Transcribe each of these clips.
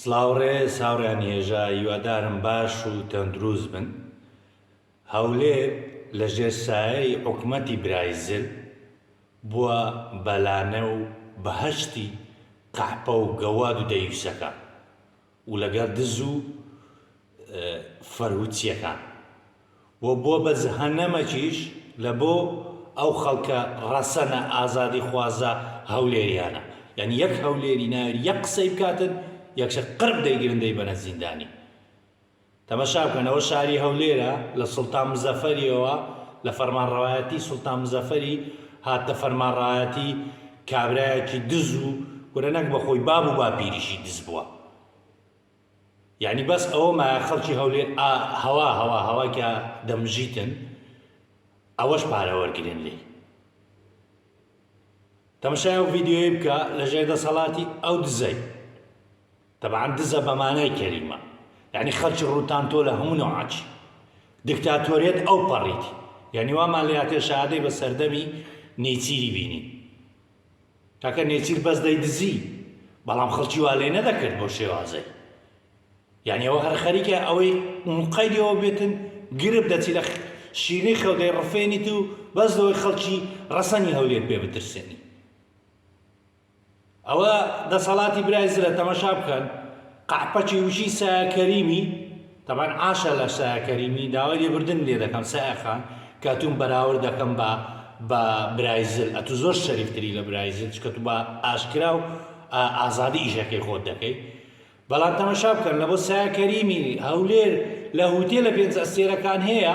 سڵاو ڕێز هاوڕێیانی هێژا هیوادارم باش و تەندروست بن هەولێر لە ژێر سایەی حکومەتی برای زل بووە بەلانە و بەهەشتی قەحپە و گەواد و دەیوسەکان و لەگەڵ دز و فەرهودچیەکان و بۆ بە جهەنەمەکیش لە بۆ ئەو خەڵکە ڕەسەنە ئازادی خوازە هەولێریانە یانی یەک هەولێری ناوێری یەک قسەی بکاتن یەکسەر قرب دەیگرن دەیبەنە زیندانی. تەمەشا بکەنەوە شاری هەولێرە لە سوڵتان مزەفەریەوە لە فەرمانڕەوایەتی سوڵتان مزەفەری هاتنە فەرمانڕەوایەتی کابرایەکی دز و کورە نەک بە خۆی باب و باپیریشی دز بوە یانی بەس ئەوە مایە خەڵکی هەولێر ئا هەوا هەوا هەوا کە دەمژیتن ئەوەش پارە وەرگرن لێی تەمەشای ئەو ڤیددیوی بکە لە ژێر دەسەڵاتی ئەو دزەی تەبعەن دزە بەمانای کەلیمە یەعنی خەڵکی ڕووتان تۆ لە هەموو نەوعەکی دکتاتۆریەت ئەوپەڕیت یەعنی وامان لێهاتێ شەهادەی بە سەردەمی نێچیری بینین کاکە نێچیر بەس دەیدزی بەڵام خەڵکی وا لێ نەدەکرد بۆ شێوازەی یعنی ئەوە هەر خەریکە ئەوەی مقەیەوە بێتن گرب دەچی لە شیرنی خەودەی ڕفێنیت و بەس لەوەی خەڵکی ڕەسەنی هەولێر پێ بترسێنی ئەوە دەسەڵاتی برای زرە تەمەشا بکەن قەحپەکی وشی سایە کەریمی تەبان عاشە لە سایە کەریمی داوای لێبردن لێ دەکەم سایە خان کە توم بەراورد دەکەم بە بە برای زل ئەتو زۆر شەریفتری لە برای زل چکە تو بە ئاشکرا و ئازادی ئیشەکەی خۆت دەکەی بەڵام تەمەشا بکەن لە بۆ سایە کەریمی هەولێر لە هوتێ لە پێنج ئەستێرەکان هەیە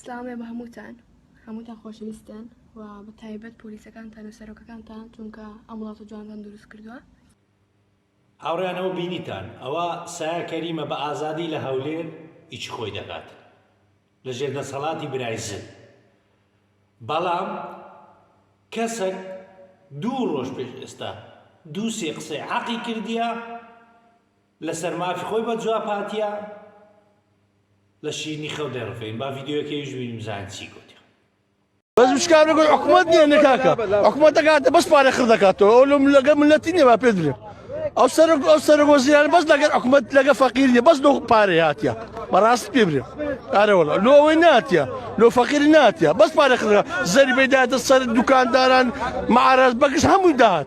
سلاوێ بە هەمووتان هەمووتان خۆشەویستن و بە تایبەت پۆلیسەکانتان و سەرۆکەکانتان چونکە ئەم وڵات و جوانتان دروست کردووە هاوڕیانەوە بینیتان ئەوە سایە کەریمە بە ئازادی لە هەولێر ئیچی خۆی دەکات لە ژێر دەسەڵاتی برای زل بەڵام کەسەک دوو ڕۆژ پێش ئێستا دوو سێ قسەی عقی کردیە لەسەر مافی خۆی بە جواب هاتیە لە شیرنی خەو دەڕفێن با ڤیدیۆکەیش بینیم بزانین چی گوت بەس مشکار بگوی حکومت نیە نکاکە حکومت دەکاتە بەس پارە خڕ دەکاتەوە ئەو لەم لەگە ملەتی نیە با پێ درێ ئەو سەر ئەو سەر وەزیران بەس لەگەر حکومت لەگە فەقیر نیە بەس لۆ پارە هاتیە بەڕاست پێ برێ ئارەوەڵە لۆ ئەوەی ناتیە لۆ فەقیر ناتیە بەس پارە خڕ زەری بەداتە سەر دوکانداران معراز بەکش هەموو داهات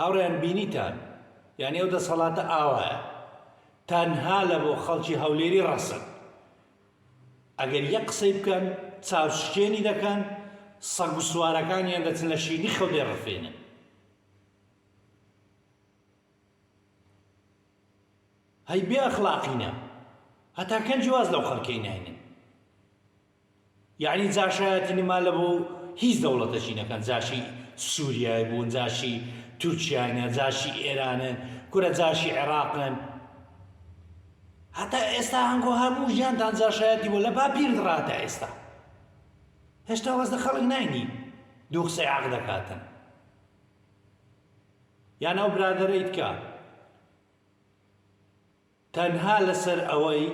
هاوڕێیان بینیتان یانی ئەو دەسەڵاتە ئاوایە تەنها لە بۆ خەڵکی هەولێری ڕەسن ئەگەر یەک قسەی بکەن چاو شکێنی دەکەن سەگ و سوارەکانیان دەچن لە شیری خەو دێڕفێنن هەی بێ ئەخلاقینە هەتا کەنجی واز لەو خەڵکەی ناینن یەعنی جاشایەتی نما لە بۆ هیچ دەوڵەتەکی نەکەن جاشی سوریای بوون جاشی تورکیاینە جاشی ئێرانن کورە جاشی عێراقن هەتا ئێستا هەنگۆ هەموو ژیانتان جاشایەتی بۆ لە باپیرت ڕاتە ئێستا هێشتا وەز لە خەڵک ناینی دوو قسەی عەق دەکاتن یان ئەو برادەرەیت کە تەنها لەسەر ئەوەی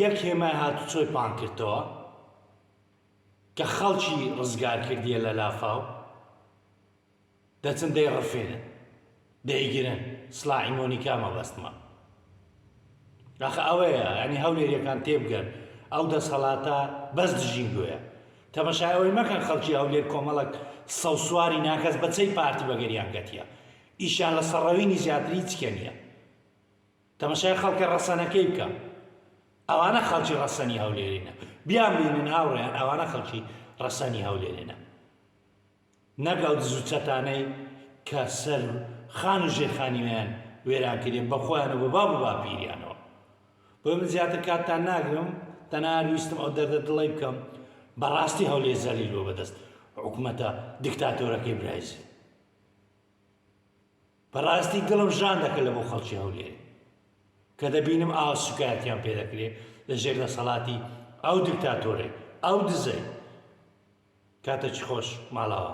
یەک هێمای هاتوچۆی پانکردتەوە کە خەڵکی ڕزگار کردیە لە لافاو دەچن دەی ڕفێنن دەیگرن سلاحی مۆنیکا مەبەستمە داخە ئەوەیە ئەنی هەولێریەکان تێبگەن ئەو دەسەڵاتە بەس دژین گوۆە تەمەشایەوەی مەکەن خەڵکی هەولێر کۆمەڵک سەوسواری ناکەس بەچەی پارتی بەگەریان گەتیە ئیشیان لە سەر ڕەوینی زیاتر هیچ کێ نیە تەمەشای خەڵکە ڕەسەنەکەی بکە ئەوانە خەڵکی ڕەسەنی هەولێرینە بیان بینن هاوڕێیان ئەوانە خەڵکی ڕەسەنی هەولێرێنە نەک ئەو دزو چەتانەی کە سەر خان و ژێرخانیویان وێران کرێ بە خۆیان و بە باب و باپیریانەوە بۆ من زیاتر کاتتان ناگرم تەنها ویستم ئەو دەردە دڵی بکەم بەڕاستی هەولێ زەلیل بۆ بەدەست حکوومەتە دیکتاتۆرەکەی برایزی بەڕاستی دڵم ژان دەکە لە بۆ خەڵکی هەولێر کە دەبینم ئاو سوکایەتیان پێ دەکرێ لە ژێر دەسەڵاتی ئەو دکتاتۆرەی ئەو دزەی کاتە چ خۆش ماڵاوە